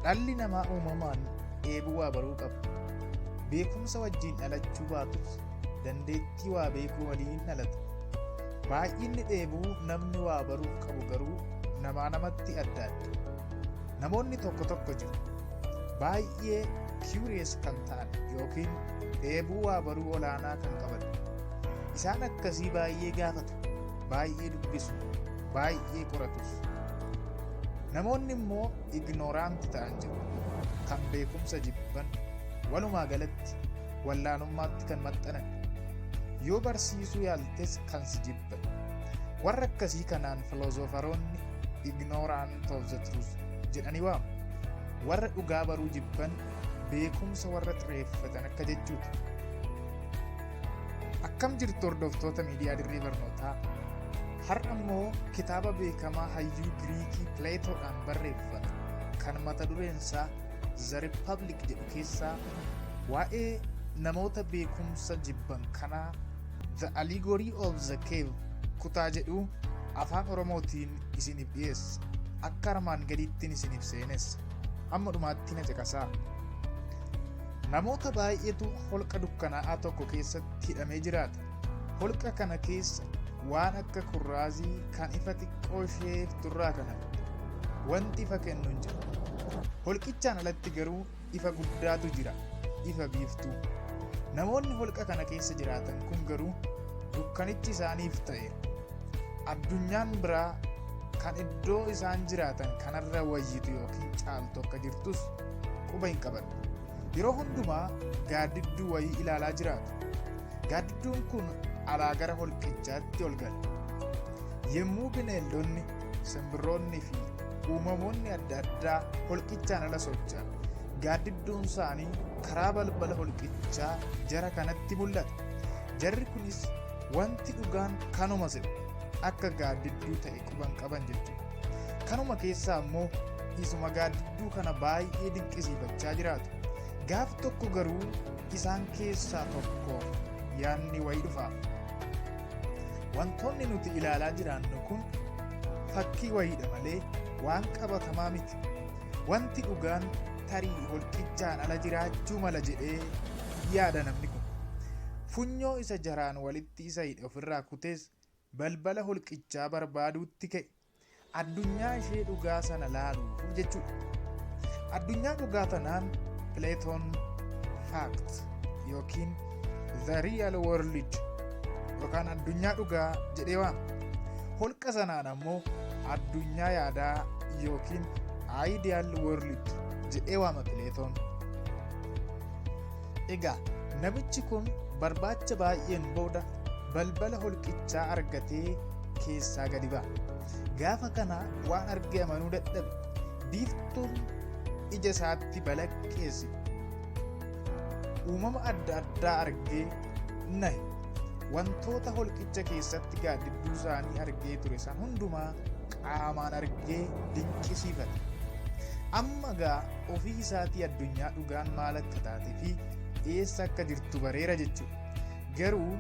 Dhalli namaa uumamaan dheebuu waa baruu qaba. Beekumsa wajjin dhalachuu baatus dandeettii waa beekuu waliin dhalata. Baay'inni dheebuu namni waa baruuf qabu garuu namaa namatti adda adda. Namoonni tokko tokko jiru. Baay'ee curious kan ta'an yookiin dheebuu waa baruu olaanaa kan qaban. Isaan akkasii baay'ee gaafatu. baay'ee dubbisu baay'ee qoratus namoonni immoo ignoraanti ta'an jiru kan beekumsa jibban walumaa galatti wallaanummaatti kan maxxanan yoo barsiisuu yaaltes kan si jibban warra akkasii kanaan filoozofaroonni ignorant of the truth jedhanii waamu warra dhugaa baruu jibban beekumsa warra xireeffatan akka jechuudha Akkam jirtu hordoftoota miidiyaa dirree barnootaa? Har'a immoo kitaaba beekamaa hayyuu Giriikii Pileetoodhaan barreeffame kan mata dureen isaa The Republic jedhu keessaa waa'ee namoota beekumsa jibban kanaa The Allegory of the Cave kutaa jedhu afaan Oromootiin isiniif dhiyeessa. Akka armaan gadiittiin isiniif seenessa. Amma dhumaatti na caqasaa. Namoota baay'eetu holqa dukkanaa'aa tokko keessatti hidhamee jiraata. Holqa kana keessa waan akka kurraazii kan ifa xiqqoo ishee turraa kan hafe wanti ifa kennu hin jiru. Holqichaan alatti garuu ifa guddaatu jira, ifa biiftuu. Namoonni holqa kana keessa jiraatan kun garuu dukkanichi isaaniif ta'e. Addunyaan biraa kan iddoo isaan jiraatan kanarra wayyitu yookiin caaltu akka jirtus quba hin qaban. Yeroo hundumaa gaaddidduu wayii ilaalaa jiraatu. Gaaddidduun kun alaa gara holqichaatti ol gala. Yommuu bineeldonni, simbirroonni fi uumamoonni adda addaa holqichaan ala socho'an gaaddidduun isaanii karaa balbala holqichaa jara kanatti mul'ata. Jarri kunis wanti dhugaan kanuma jedhu akka gaaddidduu ta'e quban qaban jechuudha. Kanuma keessaa immoo isuma gaaddidduu kana baay'ee dinqisiifachaa jiraatu. Gaaf tokko garuu isaan keessaa tokko yaadni wayii dhufa. Wantoonni nuti ilaalaa jiraannu kun fakkii wayiidha malee waan qabatamaa miti. Wanti dhugaan tarii holqichaan ala jiraachuu mala jedhee yaada namni kun. Funyoo isa jaraan walitti isa hidhe ofirraa kutees balbala holqichaa barbaaduutti ka'e. Addunyaa ishee dhugaa sana laaluuf jechuudha. Addunyaa dhugaa tanaan Platon Fact yookiin The Real World yookaan addunyaa dhugaa jedhee waama. Holqa sanaan ammoo addunyaa yaadaa yookiin Ideal World jedhee waama Platon. Egaa namichi kun barbaacha baay'een booda balbala holqichaa argatee keessaa gadi ba'a. Gaafa kana waan argee amanuu dadhabe. Biiftuun ija isaatti balaqqeessi. Uumama adda addaa argee nahe. Wantoota holqicha keessatti gaaddidduu isaanii argee ture san hundumaa qaamaan argee dinqisiifate. Amma gaa ofii isaatii addunyaa dhugaan maal akka taatee fi eessa akka jirtu bareera jechuudha. Garuu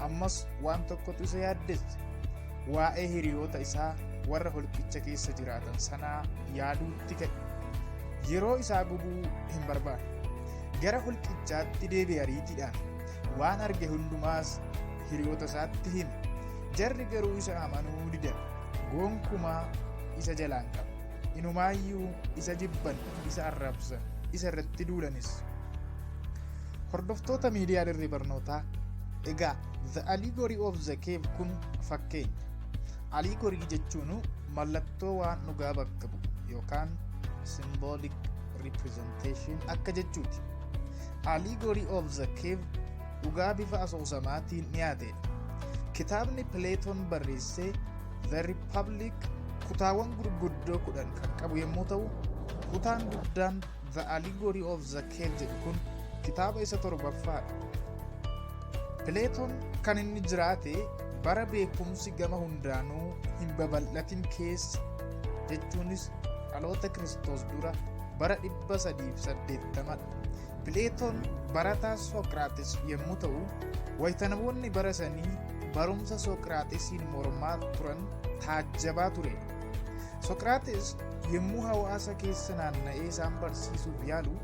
ammas waan tokkotu isa yaaddessa. Waa'ee hiriyoota isaa warra holqicha keessa jiraatan sanaa yaaduutti ka'e. Yeroo isaa gubuu hin barbaadu. Gara holqichaatti deebi'e ariitiidhaan waan arge hundumaas hiriyoota isaatti hime. Jarri garuu isa amanuu didan. Gonkumaa isa jalaan qabu. Inumaayyuu isa jibban, isa arrabsan, isa irratti duulanis. Hordoftoota miidiyaa dirree barnootaa egaa The Allegory of the Cave kun fakkeenya. Allegory jechuun mallattoo waan dhugaa bakka bu'u yookaan symbolic representation akka jechuuti. Allegory of the Cave dhugaa bifa asoosamaatiin dhiyaateedha. Kitaabni Pileetoon barreessee The Republic kutaawwan gurguddoo kudhan kan qabu yommuu ta'u, kutaan guddaan The Allegory of the Cave jedhu kun kitaaba isa torbaffaadha. Pileetoon kan inni jiraate bara beekumsi gama hundaanuu hin babal'atin keessa jechuunis dhaloota Kiristoos dura bara 380 dha. Pileetoon barataa Sooqiraaxis yommuu ta'u, wayita namoonni bara sanii barumsa Sooqiraaxisiin mormaa turan taajjabaa ture. Sooqiraaxis yommuu hawaasa keessa naanna'ee isaan barsiisuuf yaalu,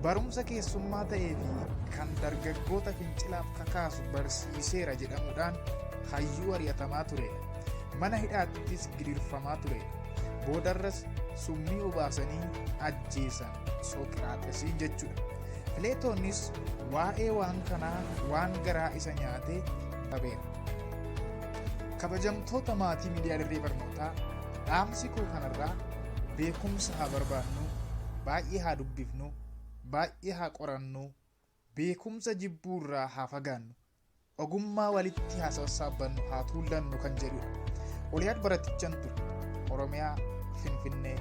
barumsa keessummaa ta'ee fi kan dargaggoota fincilaaf kakaasu barsiiseera jedhamuudhaan hayyuu ari'atamaa ture. Mana hidhaattis gidirfamaa ture. Boodarras summii obaasanii ajjeesan. Sooqiraaxesii jechuudha. Pileetoonis waa'ee waan kanaa waan garaa isa nyaatee qabeera. Kabajamtoota maatii miidiyaa dirree barnootaa dhaamsi koo kanarraa beekumsa haa barbaannu, baay'ee haa dubbifnu, baay'ee haa qorannu, Beekumsa jibbuu irraa haa fagaannu. Ogummaa walitti haa sassaabbannu, haa tuullannu kan jedhudha. Oliyaad Baratichan ture. Oromiyaa, Finfinnee.